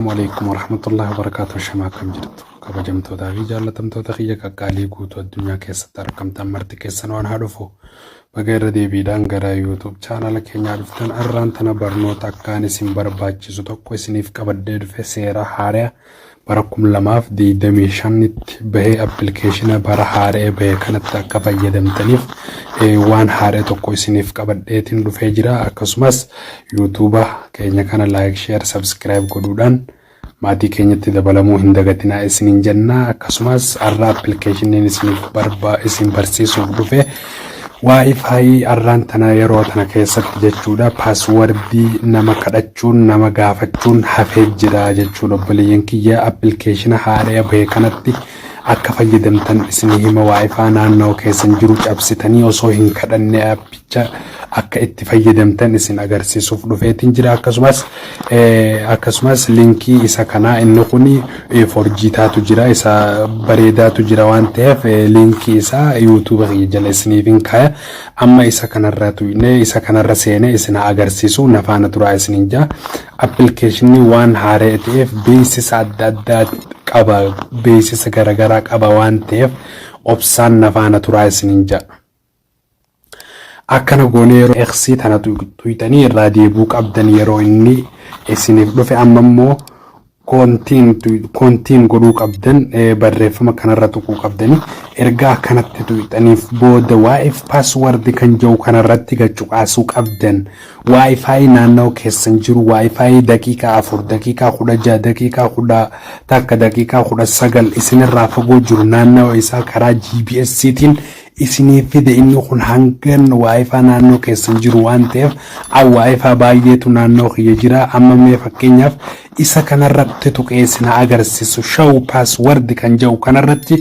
Waalaikum warahmatullahi wabarakatuh shama akkam jirtu kabajamtootaa fi jaallatamtoota kiyya qaqqaalii guutuu addunyaa keessatti argamtan marti keessan waan haa dhufu baga irra deebiidhaan gara yuutuub chaanala keenyaa dhuftan arraan tana barnoota akkaan isin barbaachisu tokko isiniif qabadhee dhufe seera haaraa bara kum lamaaf digdamii shanitti bahee appilikeeshina bara haaraa bahee kanatti akka fayyadamtaniif eh, waan haaraa tokko isiniif qabadheetiin dhufee jira akkasumas Yuutuuba keenya kana like, share, subscribe godhuudhaan maatii keenyatti dabalamuu hin dagatinaa isiniin jenna. Akkasumas arraa appilikeeshiniin isiniif barba isin barsiisuuf dhufe Wi-Fi arraan tana yeroo tana keessatti jechuudha paaswardii nama kadhachuun nama gaafachuun hafee jira jechuudha obboleeyyan kiyya appilikeeshina haaraya bahe kanatti akka fayyadamtan isinii hima waayifaa naannawa keessan jiru cabsitanii osoo hin kadhanne appicha akka itti fayyadamtan isin agarsiisuuf dhufeetiin jira akkasumas akkasumas linkii isa kanaa inni kun forjiitaatu jira isa bareedaatu jira waan ta'eef linkii isaa yuutuuba kiyya jala isiniif hin kaaya amma isa kanarra tuyne isa kanarra seene isin agarsiisu nafaana turaa isiniin jaa Appilikeeshinni waan haara'e ta'eef beeksisa adda addaa qaba beeksisa garagaraa qaba waan ta'eef obsaan na faana turaa isiniin jedha. Akkana goonee yeroo eeksii tana tuyxanii irraa deebuu qabdan yeroo inni isiniif dhufe amma immoo koontiin godhuu qabdan barreeffama kanarra tuquu qabdani erga akkanatti tuyxaniif booda waa'eef paaswardi kan jedhu kanarratti gachuqaasuu qabdan. Wi-Fi naannawa keessan jiru Wi-Fi daqiiqaa 4, daqiiqaa 16, daqiiqaa 11, daqiiqaa 19 isinirraa fagoo jiru naannawa isaa karaa GPS tiin isiniif fida inni kun hangan Wi-Fi naannoo keessan jiru waan ta'eef a Wi-Fi baay'eetu naannoo kiyya jira amma mee fakkeenyaaf Isa kanarratti tuqee sin haa agarsisu show password kan ja'u kanarratti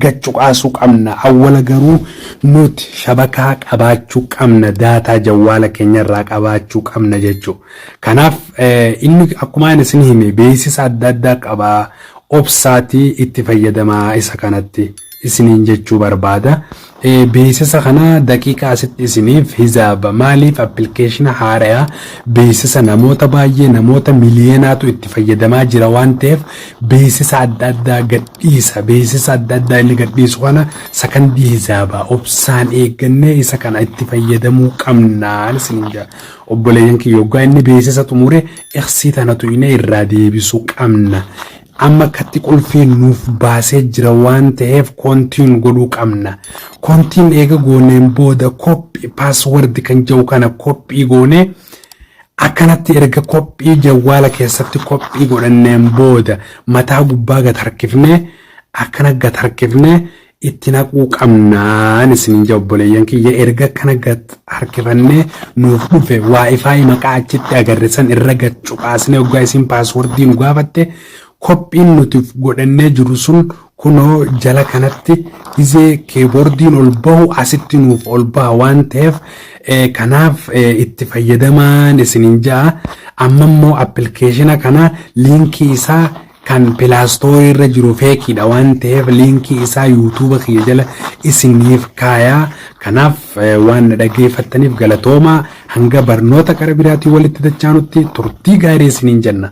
gad cuqaasuu qabna awwala garuu nuti shabakaa qabaachuu qabna daataa jawwaala keenyarraa qabaachuu qabna jechuu kanaaf inni akkuma ani sin hime beeksisa adda addaa qaba obsaatii itti fayyadamaa isa kanatti. isiniin jechuu barbaada. Beeksisa kana daqiiqa asitti isiniif hizaaba. Maaliif appilikeeshina haaraya beeksisa namoota baay'ee namoota miliyeenaatu itti fayyadamaa jira waan ta'eef beeksisa adda addaa gadhiisa. Beeksisa adda addaa inni gadhiisu kana sakandii hizaaba. Obsaan eeggannee isa kana itti fayyadamuu qabnaan isiniin jaa. Obboleeyyan kiyya yoggaa inni beeksisa xumure iksii tana tu'inee irraa deebisuu qabna. Amma akkatti qulfii nuuf baasee jira waan ta'eef continue godhuu qabna. Continue eega gooneen booda copy password kan jedhu kana copy goonee akkanatti erga copy jawwaala keessatti copy godhanneen booda mataa gubbaa gad harkifnee akkana gad harkifnee itti naquu qabnaan isiniin jaa obboleeyyan kiyya erga kana gad harkifannee nuuf dhufe waa'ifaayi maqaa achitti agarre san irra gad cuqaasnee oggaa isiin paaswordii nu gaafatte kophiin nuti godhannee jiru sun kunoo jala kanatti gizee keeboordiin ol bahu asitti nuuf ol baha waan ta'eef kanaaf itti fayyadamaan isiniin jaa amma immoo appilikeeshina kana liinkii isaa Kan pilaastoorii irra jiru feekiidha waan ta'eef liinkii isaa yuutuuba kiyya jala isiniif kaaya. Kanaaf waan na dhaggeeffattaniif galatoomaa. Hanga barnoota qara biraatiin walitti dachaanutti turtii gaarii isiniin jenna.